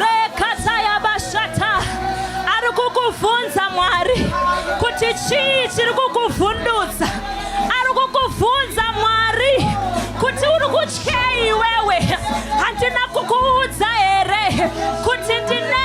rekatayabashata ari kukuvhunza mwari kuti chii chiri kukuvhundutsa ari kukuvhunza mwari kuti uri kutyei iwewe handina kukuudza here kuti ndine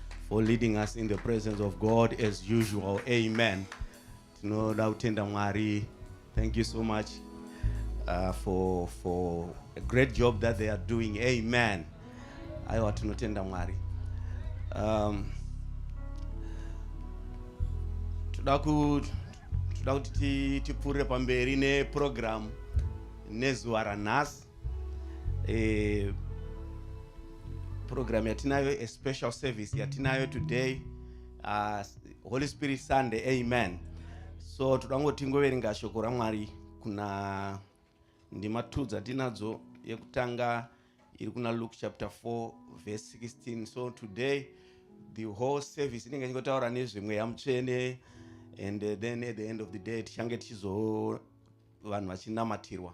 for leading us in the presence of God as usual. Amen. Tinoda kutenda Mwari. Thank you so much uh, for for a great job that they are doing. Amen. Aiwa tinotenda Mwari. Um, toda ku toda kuti tipfuurire pamberi neprogramu nezuva ranhasi eh, program yatinayo a special service yatinayo today uh, holy spirit sunday amen so toda kungoti ngoverenga shoko ramwari kuna ndima two dzatinadzo yekutanga iri kuna luke chapter 4 verse 16 so today the whole service inenge ichingotaura nezvemweya mutsvene and uh, then at the end of the day tichange tichizo vanhu vachinamatirwa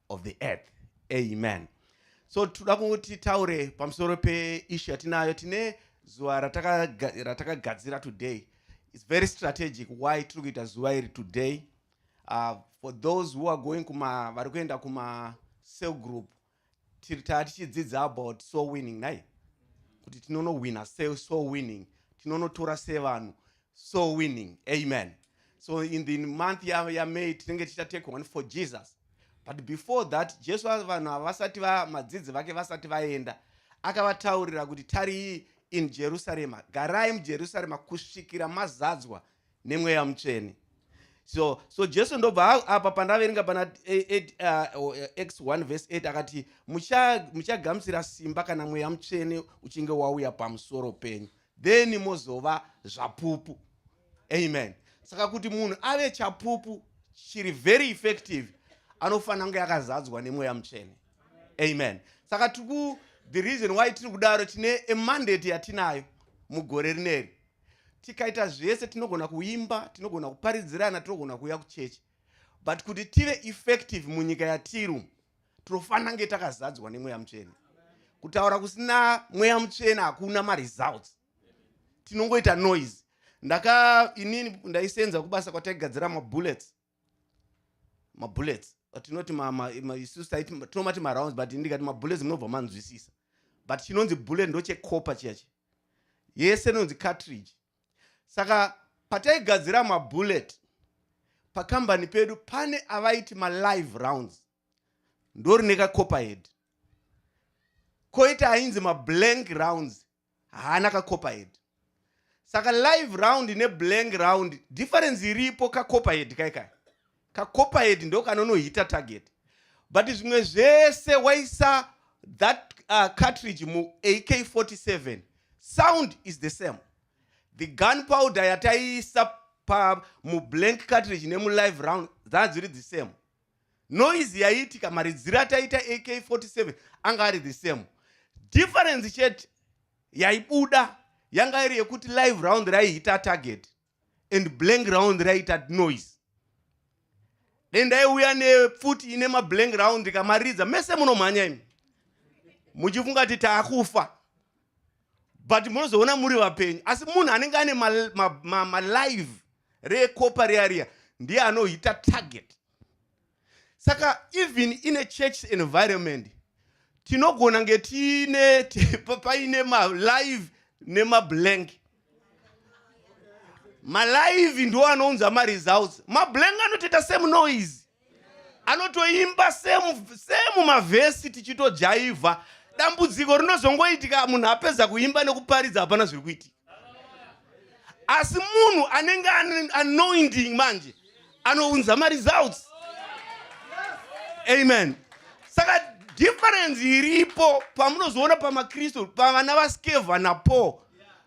of the earth amen so tinoda kuti taure pamusoro peishu yatinayo tine zuva ratakagadzira today its very strategic why tiri kuita zuva iri today uh, for those who are going kuma vari kuenda kuma cell group tiri taa tichidzidza about soul winning nai kuti tinonowina se soul winning tinonotora sevanhu so winning amen so in the month yamay ya, ya tinenge tichatake one for jesus but before that jesu vanhu havasati madzidzi vake vasati vaenda akavataurira kuti tarii in jerusarema garai mujerusarema kusvikira mazadzwa nemweya mutsvene so so jesu ndobva apa pandaverenga pana x 1 vese 8 akati muchagamuchira simba kana mweya mutsvene uchinge wauya pamusoro penyu then mozova zvapupu amen saka kuti munhu ave chapupu chiri very effective anofanira kunge yakazadzwa nemweya mutsvene amen saka tiku the reason why tiri kudaro tine emandate yatinayo mugore rineri tikaita zvese tinogona kuimba tinogona kuparidzirana tinogona kuuya kuchechi but kuti tive effective munyika yatiru tinofanira kunge takazadzwa nemweya mutsvene kutaura kusina mweya mutsvene hakuna maresults tinongoita noise ndaka inini ndaisenza kubasa kwataigadzira mabullets mabullets tinoti isusu tinomati marounds but ndikati mabullets munobva manzwisisa but chinonzi bullet ndochecopa chiyachi yese inonzi cartridge saka pataigadzira mabullet pakambani pedu pane avaiti malive rounds ndorine kacopperhead koita ainzi mablank rounds haana kacopperhead saka live round neblank round difference iripo kacopperhead kaikai kacopperhead ndo kanonohita target but zvimwe zvese waisa that uh, cartridge mu ak47 sound is the same the gun powder yataiisa pa mublank cartridge nemulive round dzaa dziri the same noise yaiitika maridziro ataita ak47 anga ari the same difference chete yaibuda yanga iri yekuti live round raihita target and blank round raita noise then ndaiuya nepfuti ine mablank round ndikamaridza mese munomhanya imi muchifunga kuti taakufa but munozoona muri vapenyu asi munhu anenge ane malive ma, ma, ma, ma recopa reariya ndiye anohita target saka even in a church environment tinogona nge tiine paine malive nemablank malive ndo anounza maresults mablank anotoita same noise anotoimba semu mavhesi tichitojaivha dambudziko rinozongoitika munhu apedza kuimba nekuparidza hapana zviri kuitika asi munhu anenge anointing manje anounza maresults amen saka difference iripo pamunozoona pamakristu pavana vaskevha napo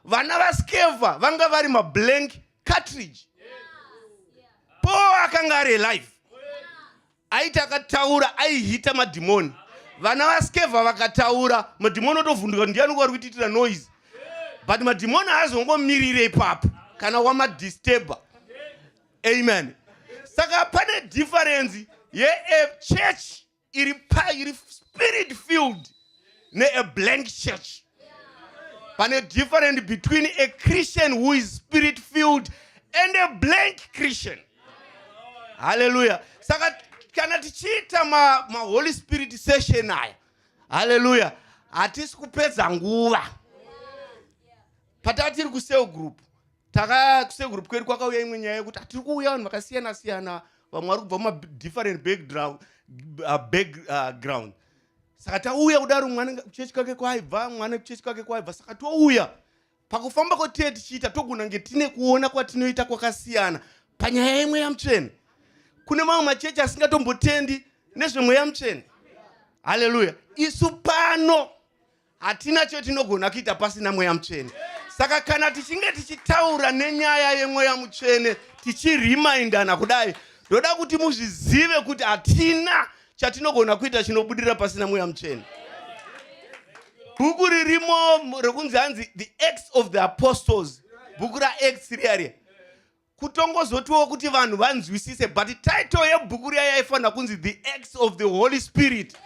vana vaskevha vanga vari mablank cartridge paul akanga ari alive aiti akataura aihita madhimoni vana vaskevha vakataura madhimoni otovhunduka kuti ndiani kwari kuitiitira noise but madhimoni aazongomirire ipapo kana wamadisturber amen saka pane differenzi yechurch iri pa iri spirit filled ne a blank church pane different between a christian who is spirit filled and a blank christian haleluya saka kana tichiita maholy ma spirit session aya haleluya hatisi kupedza nguva pataa tiri kusel group taka kusekuru kwedu kwakauya imwe nyaya yekuti atiri kuuya vanhu vakasiyana siyana vamwe vari kubva mumadifferent background uh, uh, saka tauya kudaro mwana kuchechi kwake kwaibva mwana kuchechi kwake kwaibva saka touya pakufamba kwatiye tichiita togona nge tine kuona kwatinoita kwakasiyana panyaya yemweya mutsvene kune mamwe machechi asingatombotendi nezvemweya mutsvene haleluya isu pano Hatina chotinogona kuita pasina mweya mutsvene. Saka kana tichinge tichitaura nenyaya yemweya mutsvene tichiremaindana kudai, ndoda kuti muzvizive kuti hatina chatinogona kuita chinobudira pasina mweya mutsvene. Bhuku ririmo rekunzi hanzi The Acts of the Apostles, bhuku raActs riya riya kutongozotiwo kuti vanhu vanzwisise but title yebhuku riya yaifanira kunzi the acts of the holy spirit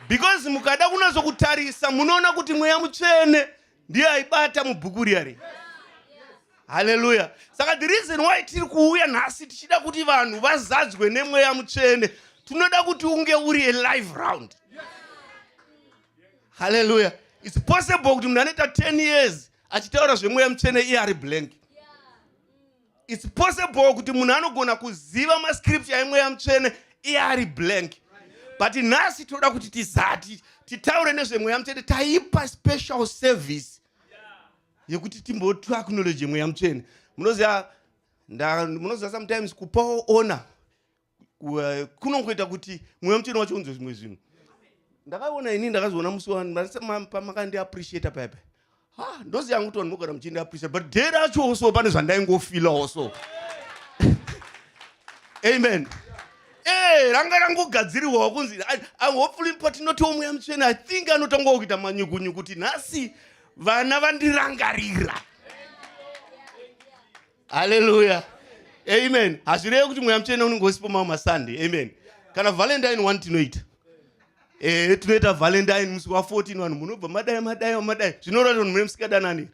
because mukada kunazokutarisa munoona kuti mweya mutsvene ndiye aibata mubhuku riya ri haleluya saka the reason why tiri kuuya nhasi tichida kuti vanhu vazadzwe nemweya mutsvene tinoda kuti unge uri a live round haleluya its possible kuti munhu anoita 10 years achitaura zvemweya mutsvene iye ari blank its possible kuti munhu anogona kuziva mascripture emweya mutsvene iye ari blank but nhasi tinoda kuti tizati titaure nezvemweya mutsvene taipa special service yekuti timbotu acknowledge mweya mutsvene munoziva munoziva sometimes kupawo ona kunongoita kuti mweya mutsvene wacho unzwe zvimwe zvinhu ndakaona ini ndakazoona musi wapamakandiappreciata paya paya ha ndozi yangu kuti vanhu mogara muchindiappreciata but day racho so pane zvandaingofilawo so amen eh, ranga rangogadzirirwawo kunzi hopefully patinotiwo mweya mutsvene i think anotangawo kuita manyukunyuku kuti nhasi vana vandirangarira haleluya amen hazvirevi kuti mweya mutsvene unenge usipo mamwe masunday amen kana valentine one tinoita ehe tinoita valentine musi wa 14 vanhu munobva madai madai madai zvinoreva kuti vanhu mune musikadanani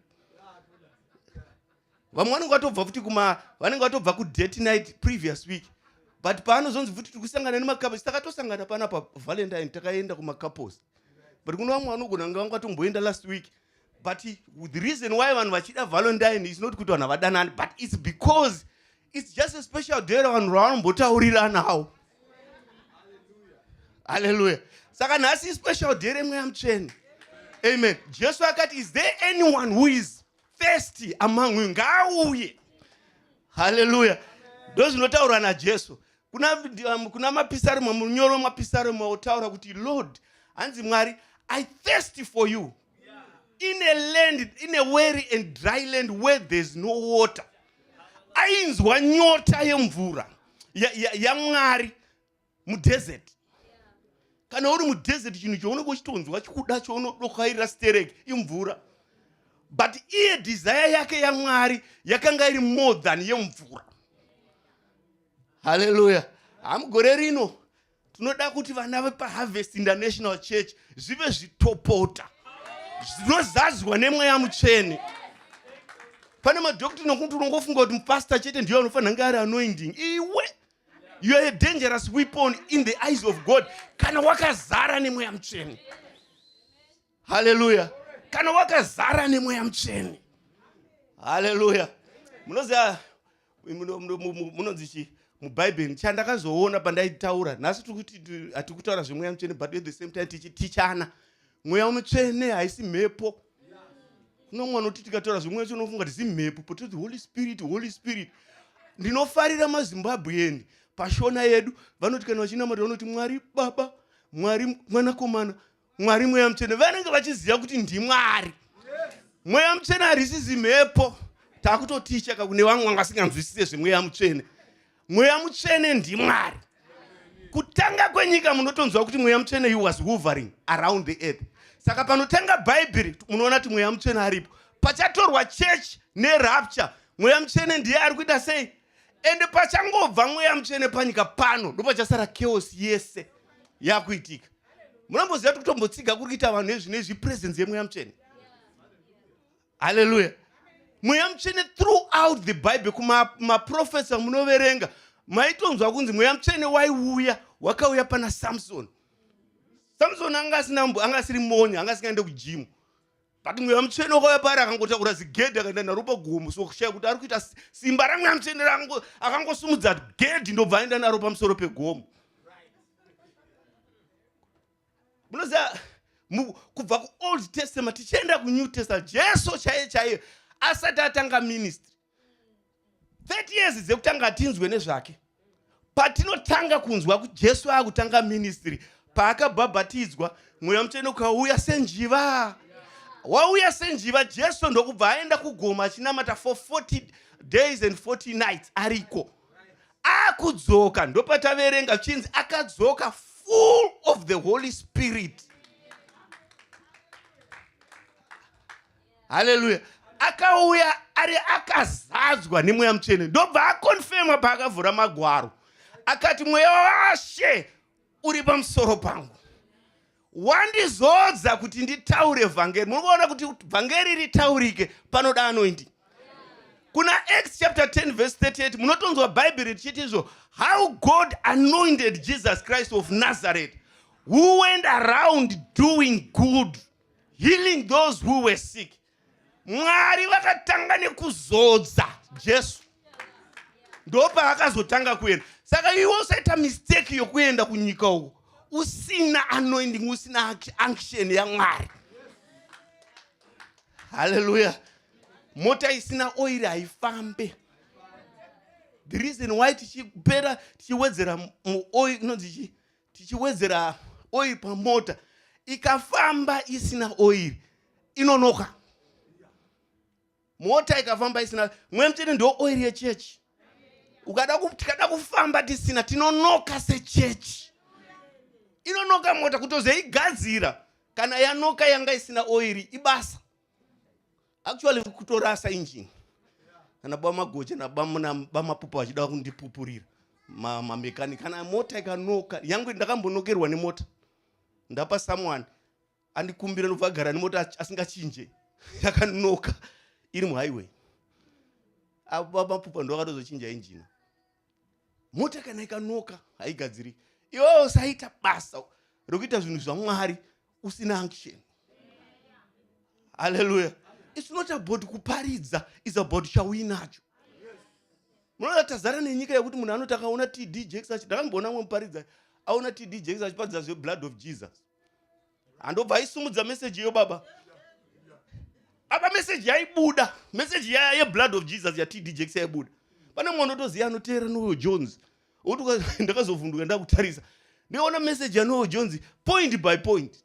vamwe vanenge vatobva futi kuma vanenge vatobva kudate night previous week but paanozonzi futi tiri kusangana nemacapos takatosangana pana pavalentine takaenda kumacouples but kuno vamwe vanogona kunge vanga vatomboenda last week but the reason why vanhu vachida valentine is not kuti vanhu havadanani but its because its just a special day ravanhu ravanombotauriranavo halleluya saka nhasi ispecial day remweya mutsvene amen jesu akati is there anyone who is thirsty among you ngaauye halleluya ndozvinotaurwa najesu kuna, um, kuna mapisarema munyoro mapisarema otaura kuti lord hanzi mwari i thirsty for you in a land in a weary and dry land where there's no water ainzwa nyota yemvura yamwari ya, ya mudesert kana uri mudesert chinhu chounenge uchitonzwa chikuda chounodokairira sterek imvura but iye desire yake yamwari yakanga iri more than yemvura haleluya hamugore rino tinoda kuti vana vepaharvest international church zvive zvitopota zvinozadzwa nemweya mutsvene pane madoctrine okuti unongofunga kuti mupastor chete ndiyo anofanira nge ari anoinding iwe you are a dangerous weapon in the eyes of god kana wakazara nemweya mutsvene haleluya kana wakazara nemweya mutsvene haleluya munoziva munonzi chii mubhaibheri chandakazoona pandaitaura nhasi hatiri kutaura zvemweya mutsvene but at the same time tichitichana mweya mutsvene haisi mhepo kuno mwana kuti tikataura zvemweya mutsvene unofunga kuti zimhepo pototi holy spirit holy spirit ndinofarira mazimbabwean pashona yedu vanoti kana vachinamata vanoti mwari baba mwari mwanakomana mwari mweya mutsvene vanenge vachiziva kuti ndimwari mweya mutsvene harisizi mhepo takutoticha kakune vamwe vanga vasinganzwisise zvemweya mutsvene mweya mutsvene ndimwari kutanga kwenyika munotonzwa kuti mweya mutsvene you was hovering around the earth saka panotanga bhaibheri munoona kuti mweya mutsvene aripo pachatorwa church nerapture mweya mutsvene ndiye ari kuita sei ende pachangobva mweya mutsvene panyika pano ndopachasara chaos yese yakuitika munomboziva kuti kutombotsiga kuri kuita vanhu ezvine zvi presence yemweya mutsvene haleluya mweya mutsvene throughout the bible kumaprofesa munoverenga maitonzwa kunzi mweya mutsvene waiuya wakauya pana samsoni samsoni anga asina anga asiri moni anga asingaende kujimu but mweya mutsvene wakauya pari akangotakura zigedhi akaenda naro pagomo so kushaya kuti ari kuita simba ramweya mutsvene akangosumudza gedhi ndobva aenda naro pamusoro pegomo munoziva kubva kuold testament tichienda kunew testament jesu chaiye chaiye asati atanga ministry 30 years dzekutanga tinzwe nezvake patinotanga kunzwa kuti jesu akutanga ministry paakabhabhatidzwa mweya mutsvene ukauya senjiva wauya senjiva jesu ndokubva aenda kugoma achinamata for 40 days and 40 nights ariko akudzoka ndopataverenga chinzi akadzoka full of the holy spirit haleluya akauya ari akazadzwa nemweya mutsvene ndobva akonfema paakavhura magwaro akati mweya washe uri pamusoro pangu wandizodza kuti nditaure vhangeri muri kuona kuti vhangeri ritaurike panoda anoindi kuna acts chapter 10 verse 38 munotonzwa bhaibheri richiti izvo how god anointed jesus christ of nazareth who went around doing good healing those who were sick mwari vakatanga nekuzodza jesu ndopaakazotanga kuenda saka iwe usaita mistake yokuenda kunyika uko usina anoending usina anction yamwari haleluya mota isina oiri haifambe the reason why tichipera tichiwedzera muoiri inonzi chii tichiwedzera oil pamota ikafamba isina oil inonoka mota ikafamba isina mwe mchete ndo oil yechechi ukada tikada kufamba tisina tinonoka sechechi inonoka mota kutozoigadzira kana yanoka yanga isina oiri ibasa actually kutorasa engine kana baba magoje nabamapupa vachida kundipupurira mamekani ma kana mota ikanoka yangu ndakambonokerwa nemota ndapa someone andikumbira ndobva agara nemota asingachinje yakanoka iri muhighway avo baba mapupa ndo vakatozochinja injina mota kana ikanoka haigadziri iwewe usaita basa rekuita zvinhu zvamwari usina action haleluya it's not about kuparidza is about chauinacho munoda tazara nenyika yekuti munhu anoti akaona td jakes achi ndakamboona mwe muparidza aona td jakes achiparidza zveblood of jesus handobva aisumudza meseji iyo baba apa meseji yaibuda meseji yaya yeblood of jesus yatd jex yaibuda pane mwana otoziva anoteera noyo jones ndakazovhunduka ndakutarisa ndiona meseji yanoyo jones point by point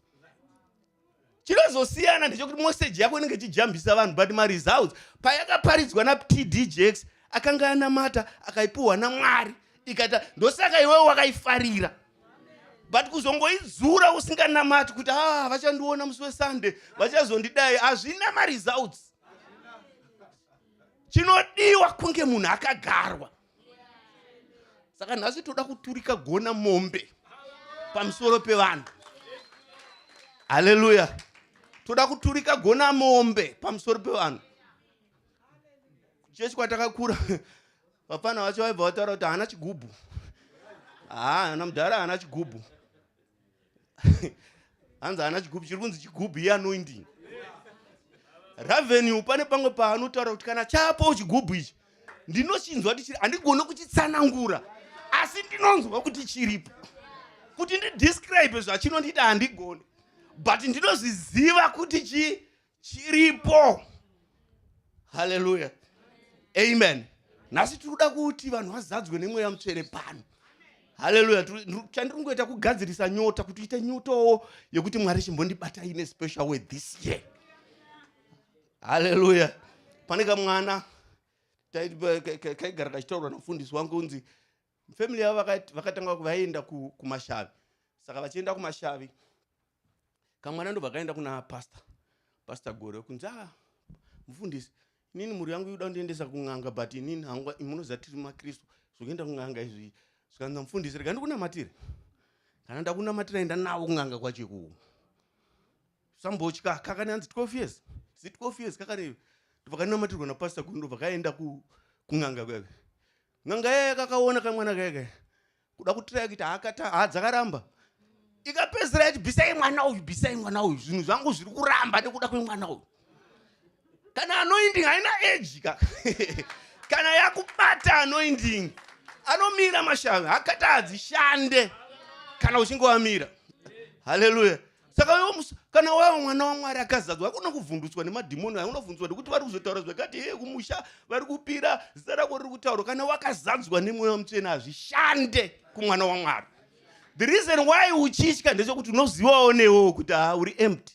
chinozosiyana ndechokuti meseji yako inenge ichijambisa vanhu but maresults payakaparidzwa natd jex akanga anamata akaipiwa namwari ikata ndosaka iwewe wakaifarira but kuzongoidzura usinganamati kuti ah vachandiona musi wesunday vachazondidai hazvina maresults chinodiwa kunge munhu akagarwa saka nhasi toda kuturika gona mombe pamusoro pevanhu haleluya toda kuturika gona mombe pamusoro pevanhu chechi kwatakakura Vapfana vacho vaibva vataura kuti haana chigubhu. Haa, ana mudhara haana chigubhu. Hanzi haana chigubhu, chiri kunzi chigubhu iye anoindini. Ravenue pane pamwe paanotaura kuti kana chapo chigubhu ichi ndinochinzwa kuti chiri handigone kuchitsanangura asi ndinonzwa kuti chiripo kuti ndidescribe zvachinondiita handigone but ndinozviziva kuti chii chiripo haleluya amen nhasi tiri kuda kuti vanhu vazadzwe nemweya mutsvene pano haleluya chandiri kungoita kugadzirisa nyota kuti uite nyotowo yekuti mwari chimbondibata ine special way this year haleluya pane kamwana kaigara kachitaurwa namufundisi wangu unzi family yavo vakati- vakatanga ku- vaienda ku- kumashavi saka vachienda kumashavi kamwana ndobva kaenda kuna pastor pastor gore kunzi ah mufundisi inini mhuri yangu yoda kundiendesa kun'anga but inini hangwa munoziva tiri makristu zvokuenda kun'anga izvi zvikanzi mufundisi rega ndikunamatire kana ndakunamatira enda navo kun'anga kwacho ikuwo sambotya kakani hanzi 12 years zi 12 years kakani ndobva kanamatirwa napastor gore ndobva kaenda ku- kun'anga kwake N'anga yaya kakaona kamwana kaya kaya kuda kutiraya kuti haakata haa dzakaramba ikapedzisira yati bisai mwana uyu bisai mwana uyu zvinhu zvangu zviri kuramba nekuda kwemwana uyu kana anoinding haina age ka kana yakubata anoinding anomira mashavi hakati hadzishande kana uchinge wamira haleluya saka wewo kana wava mwana wamwari akazadzwa hakuna kuvhundutswa nemadhimoni ayo unovhundutswa nekuti vari kuzotaura zvakati hee kumusha vari kupira zita rako riri kutaurwa kana wakazadzwa nemweya mutsvene hazvishande kumwana wamwari the reason why uchitya ndechekuti unozivawo newewo kuti haa uri empty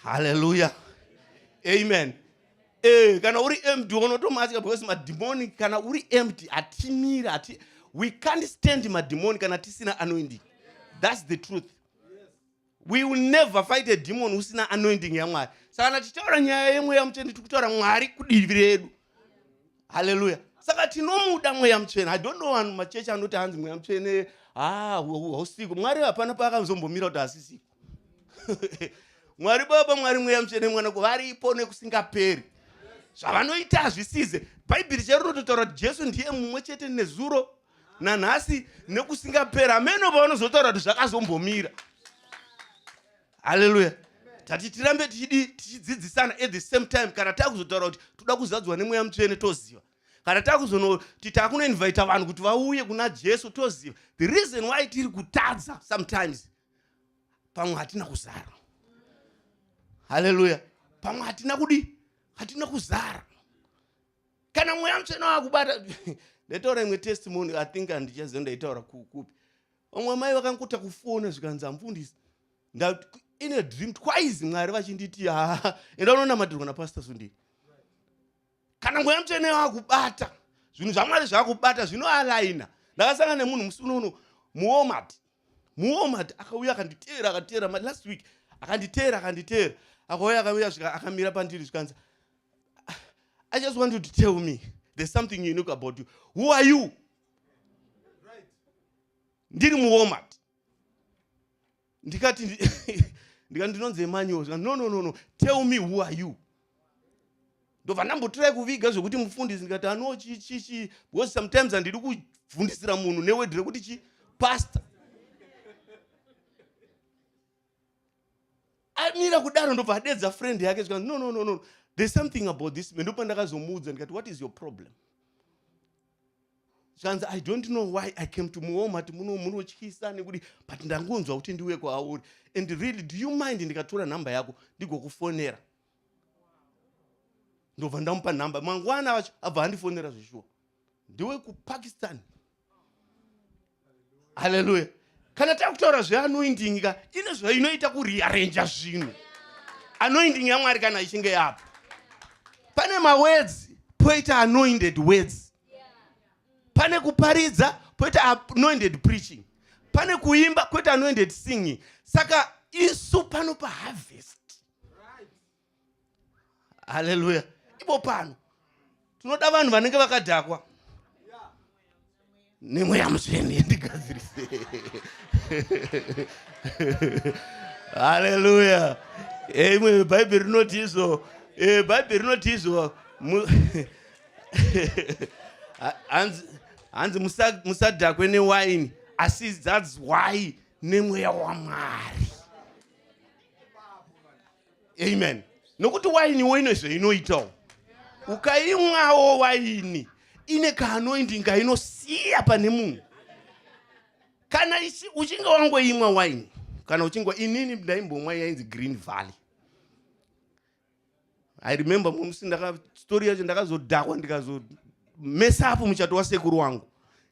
haleluya amen eh, kana uri empty unotomatya because madhimoni kana uri empty hatimiri hati we can't stand madhimoni kana tisina anoindika that's the truth we will never fight a demon usina anointing yamwari saka kana tichitaura nyaya yemweya mutsvene tiri kutaura mwari kudivi redu halleluya saka tinomuda mweya mutsvene i don't know vanhu machechi anoti hanzi mweya mutsvene ah, hausiko mwari hapana paakanzombomira kuti hasisiko mwari baba mwari mweya mutsvene mwana kuvaripo nekusingaperi zvavanoita hazvisize bhaibheri chero rototaura kuti jesu ndiye mumwe chete nezuro nanhasi nekusingapera hameno pavanozotaura kuti zvakazombomira haleluya tati tirambe tichidi tichidzidzisana at the same time kana takuzotaura kuti toda kuzadzwa nemweya mutsvene toziva kana takuzonoti takunoinvita vanhu kuti vauye kuna jesu toziva the reason why tiri kutadza sometimes pamwe hatina kuzara haleluya pamwe hatina kudi hatina kuzara kana mweya mutsvene wakubata ndaitaura imwe testimony i think andichaziva ndaitaura kupi vamwe amai vakankuta kufona zvikanzi amfundisi in a dream twice mwari vachinditi haa enda unonamatirwa napastor sundini kana mweya mutsvene wakubata zvinhu zvamwari zvakubata zvinoalaina ndakasangana nemunhu musi unouno muomat muomat akauya akanditeera akatera last week akanditeera akanditeera akauya akauya akamira pandiri zvikanzi I just want you to tell me there's something unique about you. Who are you? Ndiri muWalmart. Ndikati ndikati ndinonzi Emmanuel. No no no no. Tell me who are you? Ndobva ndambotirai kuviga zvekuti mufundisi ndikati ano chi chi chi because sometimes handidi kuvhundisira munhu neword rekuti chi pastor. amira kudaro ndobva adedza friend yake zvikanzi no no no no there's something about this man ndopandakazomuudza ndikati what is your problem zvikanzi i don't know why i came to muhome ati muno munotyisa nekuti but ndangonzwa kuti ndiuye kwauri and really do you mind ndikatora nhamba yako ndigokufonera ndobva ndamupa nhamba mangwana vacho abva andifonera zveshuwa ndiwe kupakistan haleluya kana takutaura zveanoinding ka ine zvainoita kurearenja zvinhu anoinding yamwari kana ichinge yapo pane mawedzi poita anoinded words pane kuparidza poita anoinded preaching pane kuimba kwete anoended singing saka isu pano paharvest haleluya ipo pano tinoda vanhu vanenge vakadhakwa nemweya mutsvene ndigadzirise haleluya eh, imwe bhaibheri rinoti izvo eh, bhaibheri rinoti izvo hanzi musadhakwe newaini asi thats why nemweya wamwari amen nokuti wainiwo ine zveinoitawo ukaimwawo waini ine kaanoindinga inosiya pane munhu kana uchinge wangoimwa waini kana uchinge inini ndaimbomwa yainzi green valley i remember mumusi ndakastori yacho ndakazodhakwa ndikazomesa apo muchato wasekuru wangu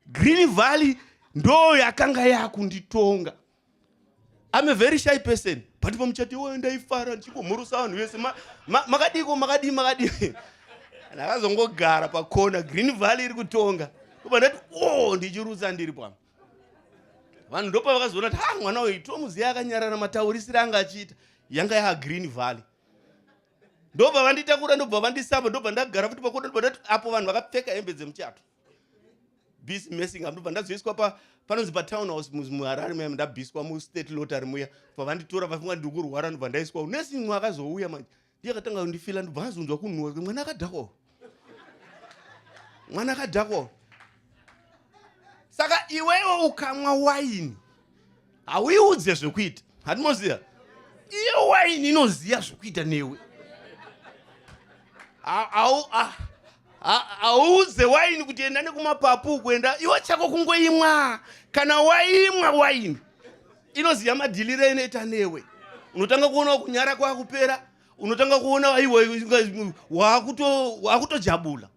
green valley ndo yakanga yakunditonga I'm a very shy person but pamuchati iwoyo ndaifara ndichingomhurusa vanhu vese makadiko makadii makadii ndakazongogara pakona green valley iri kutonga oba ndati o oh, ndichirutsa ndiri pano vanhu ndopa vakazoona kuti ha mwana uyu tomuziva akanyarara mataurisire anga achiita yanga yaa green valley ndobva vanditakura ndobva vandisamba ndobva ndagara futi pakona ndobva ndati apo vanhu vakapfeka hembe dzemuchato busy messing up ndobva ndazoiswa pa panonzi patown house muharare muya ndabhiswa mustate lotary muya bva vanditora vafunga ndiri kurwara ndobva ndaiswa unesi mwa akazouya manje ndiye akatanga kundifila ndobva azonzwa kunhuwa mwana akadhakwa mwana akadhakwa saka iwewe ukamwa waini hauiudze zvekuita hatimoziva iyo waini inoziva zvekuita newe hauudze waini kuti enda nekumapapu kuenda iwe chako kungoimwa kana waimwa waini inoziva madhiliro inoita newe unotanga kuona kunyara kwakupera unotanga kuona aiwa waakutojabula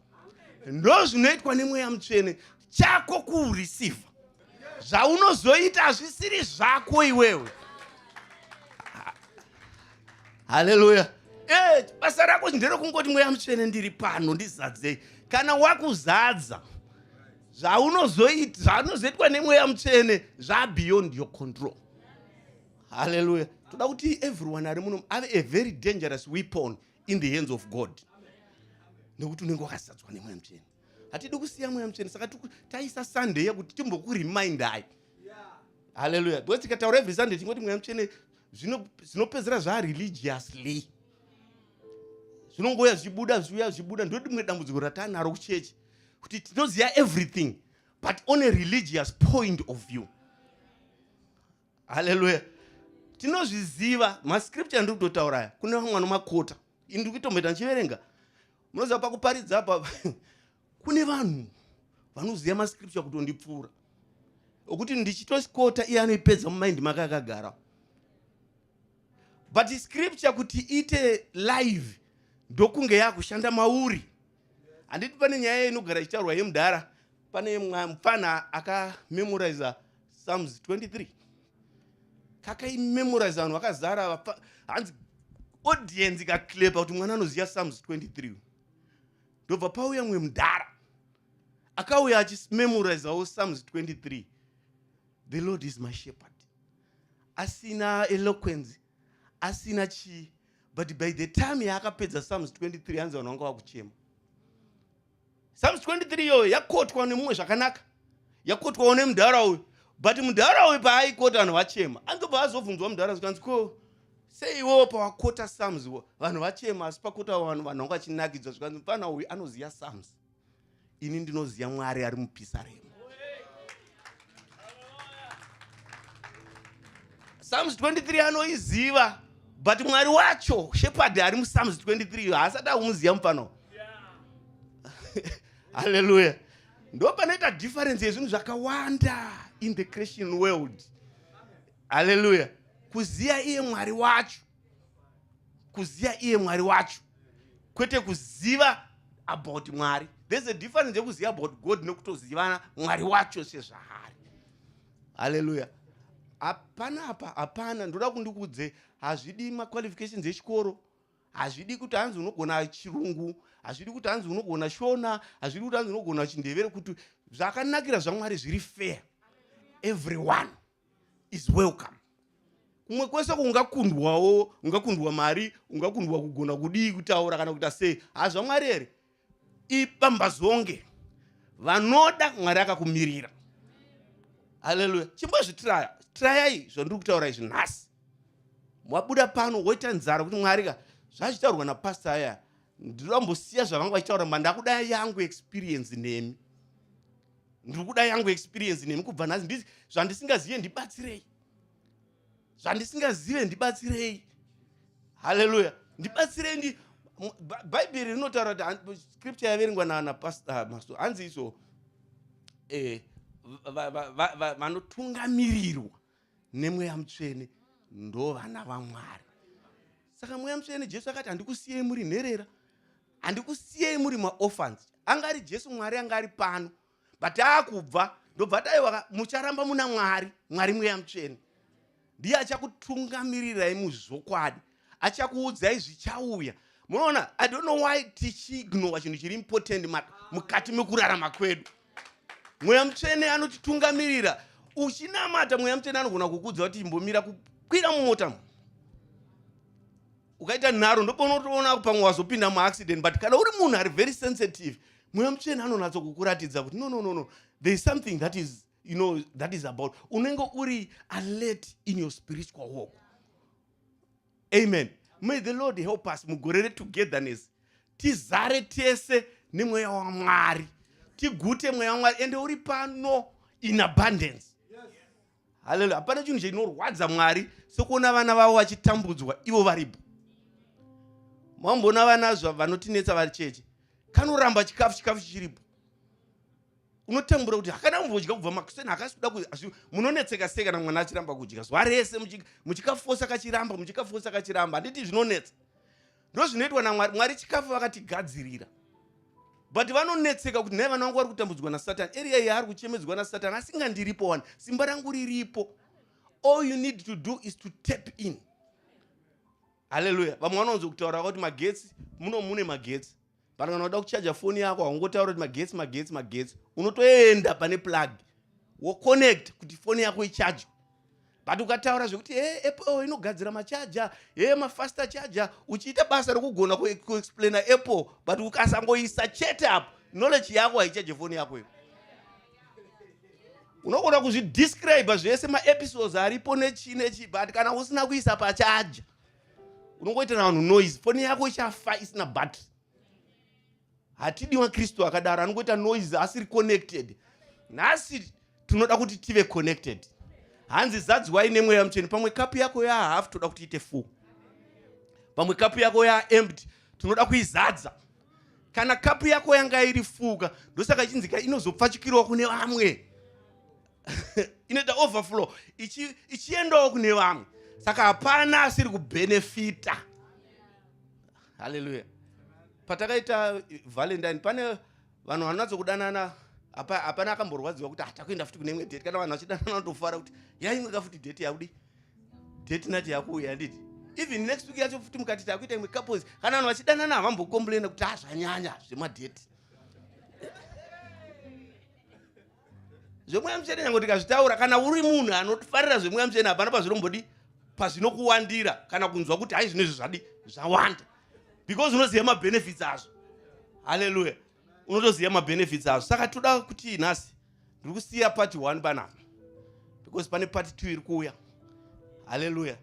ndozvinoitwa nemweya mutsvene chako kurisivha zvaunozoita hazvisiri zvako iwewe haleluya eh, basa rako nderekungoti mweya mutsvene ndiri pano ndizadzei kana wakuzadza zvaunozoitwa nemweya mutsvene zvabeyond your control haleluya toda kuti everyone ari muno ave a very dangerous weapon in the hands of god nekuti unenge wakazadzwa nemweya mutsvene hatidi kusiya mweya mutsvene saka taisa sunday yekuti timbokurimindai halleluya because tikataura every sunday tingoti mweya mutsvene zvinopedzera zvaa religiously zvinongouya zvichibuda zviuya zvichibuda ndoti rimwe dambudziko ratanaro kuchechi kuti tinoziva everything but on a religious point of view haleluya tinozviziva mascripture andiri kutotaura aya kune vamwe vanomakota ini ndiri kuitomboita ndichiverenga munoziva pakuparidza apa kune vanhu vanoziva mascripture kutondipfuura okuti ndichitosikota iye anoipedza mumaindi make akagara but scripture kuti ite live ndokunge yakushanda mauri handiti pane nyaya inogara ichitaurwa yemudhara pane mupfana akamemoriza sums 23 kakaimemoriza vanhu vakazara hanzi audience ikaklepa kuti mwana anoziva sums 23 ndobva pauya mumwe mudhara akauya achimemorizawo sums 23 the lord is my shepherd asina eloquence asina chii but by the time yaakapedza sums 23 hanzi vanhu vanga vakuchema sums 23 iyoyo yakotwa nemumwe zvakanaka yakotwawo nemudhara uyu but mudhara uyu paaikota vanhu vachema anzobva azobvunzwa mudhara zvikanzi ko sei iwewo pawakota sums vanhu vachema asi pakota vanhu vanhu vanga vachinakidzwa zvikanzi mfana uyu anoziva sums ini ndinoziva mwari ari mupisaremu psalms 23 anoiziva but mwari wacho shepherd ari mupsalms 23 haasati akumuziva mupano halleluya ndo panoita difference yezvinhu zvakawanda in the christian world halleluya kuziva iye mwari wacho kuziva iye mwari wacho kwete kuziva about mwari there's a difference yekuziva about god nekutozivana mwari wacho sezvaari halleluya hapana apa hapana ndoda kundikudze hazvidi maqualifications echikoro hazvidi kuti hanzi unogona chirungu hazvidi kuti hanzi unogona shona hazvidi kuti hanzi unogona chindevere kuti zvakanakira zvamwari zviri fair everyone is welcome kumwe kwese kungakundwawo ungakundwa mari ungakundwa kugona kudii kutaura kana kuita sei hazvamwari here ipambazonge vanoda mwari akakumirira haleluya chimbozvitiraya tirayai zvandiri kutaura izvi nhasi wabuda pano woita nzara kuti mwari ka zvazvitaurwa napasta aya ndinoda mbosiya zvavanga vachitaura mandakudaya yangu experience nemi ndiri kuda yangu experience nemi kubva nhasi zvandisingazive ndibatsirei zvandisingazive ndibatsirei haleluya ndibatsirei ndi bhaibheri rinotaura kuti scripture yaverengwa nanapastor hanzi iso eh, vanotungamirirwa nemweya mutsvene ndo vana vamwari saka mweya mutsvene jesu akati handikusiyei muri nherera handikusiyei muri maorphans anga ari jesu mwari anga ari pano but aakubva ndobva taiwa mucharamba muna mwari mwari mweya mutsvene ndiye achakutungamirirai muzvokwadi achakuudzai zvichauya munoona i don't know why tichiignora chinhu chiri important mukati mekurarama kwedu mweya mutsvene anotitungamirira uchinamata mweya mutsvene anogona kukudza kuti imbomira kukwira mumota mu ukaita nharo ndoponotoona pamwe wazopinda muaccident but kana uri munhu ari very sensitive mweya mutsvene anonatso kukuratidza kuti no no no no there is something that is you know that is about unenge uri alert in your spiritual walk amen may the lord help us mugore retogetherness tizare tese nemweya wamwari tigute mweya wamwari ende uri pano in abundance haleluya hapana chinhu chinorwadza mwari sokuona vana vavo vachitambudzwa ivo varipo mamboona vana vanotinetsa vari cheche kanoramba chikafu chikafu chichiripo unotambura kuti hakana kumvodya kubva makuseni hakasikuda munonetseka sei kana mwana achiramba kudya zuva rese muchikafosa kachiramba muchikafosa kachiramba handiti zvinonetsa ndozvinoitwa namwari mwari chikafu vakatigadzirira but vanonetseka kuti nhai vana vangu vari kutambudzwa nasatan area iyi ari kuchemedzwa nasatan asinga ndiripo wani simba rangu riripo all you need to do is to tap in haleluya vamwe vanonzo kutaura kuti magetsi muno mune magetsi Vanhu kana unoda kuchaja foni yako haungotaura kuti magetsi magetsi magetsi, unotoenda pane plug woconnect kuti foni yako ichajwe but ukataura zvekuti he apple inogadzira machaja he mafaster chaja uchiita basa rokugona kuexplaina apple but ukasangoisa chete apo knowledge yako haichaje foni yako iyo unogona kuzvidescribe zvese maepisodes aripo nechii nechii but kana usina kuisa pachaja unongoitira vanhu noise foni yako ichafa isina battery hatidi makristu akadaro anongoita noise asiri connected nhasi tinoda kuti tive connected hanzi zadziwai nemweya mutsveni pamwe kapu yako yahafu toda kuti ite full pamwe kapu yako yaempty tinoda kuizadza kana kapu yako yanga iri fuka ndosaka ichinzika inozopfachukirwa kune vamwe inoita overflow ichiendawo kune vamwe saka hapana asiri kubenefita haleluya patakaita valentine pane vanhu vanonatso kudanana hapana akamborwadziwa kuti hatakuenda ah, futi kune imwe date kana vanhu vachidanana vanotofara kuti yaimweka futi date yakudi date nacho yakuuya handiti even next week yacho futi mukati takuita imwe couples kana vanhu vachidanana havambokomplaina kuti hazvanyanya ah, zvemadate zvemweya mutsvene nyange tikazvitaura kana uri munhu anofarira zvemweya mutsvene hapana pazvinombodi pazvinokuwandira kana kunzwa kuti hai zvino izvi zvadi zvawanda because unoziva mabenefits azvo halleluya unotoziva mabenefits azvo saka toda kuti nhasi ndiri kusiya party one panapa because pane party two iri kuuya halleluya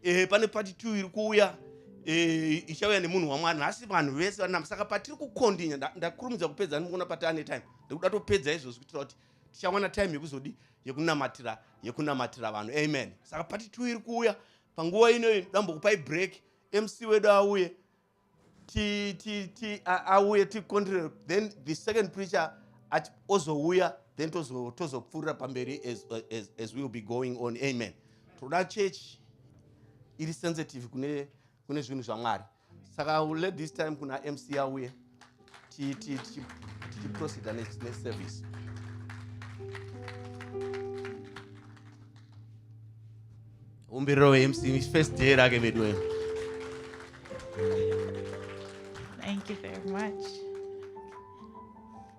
e, pane party two iri kuuya e, ichauya nemunhu wamwari nhasi vanhu vese vanama saka patiri kukondinya ndakurumidza kupedza ndikuona pati ane time ndikuda topedza izvozvi kuitira kuti tichawana time yekuzodi yekunamatira yekunamatira vanhu amen saka pati two iri kuuya panguva ino dambokupai break mc wedu auye ti ti ti auye ticontrol then the second preacher ozouya then tozopfuurira pamberi as, as, as will be going on amen toda church iri sensitive kune kune zvinhu zvamwari saka will let this time kuna mc auye tichiproceda neservice umbiriro wemc first day rake veduweyo thank you very much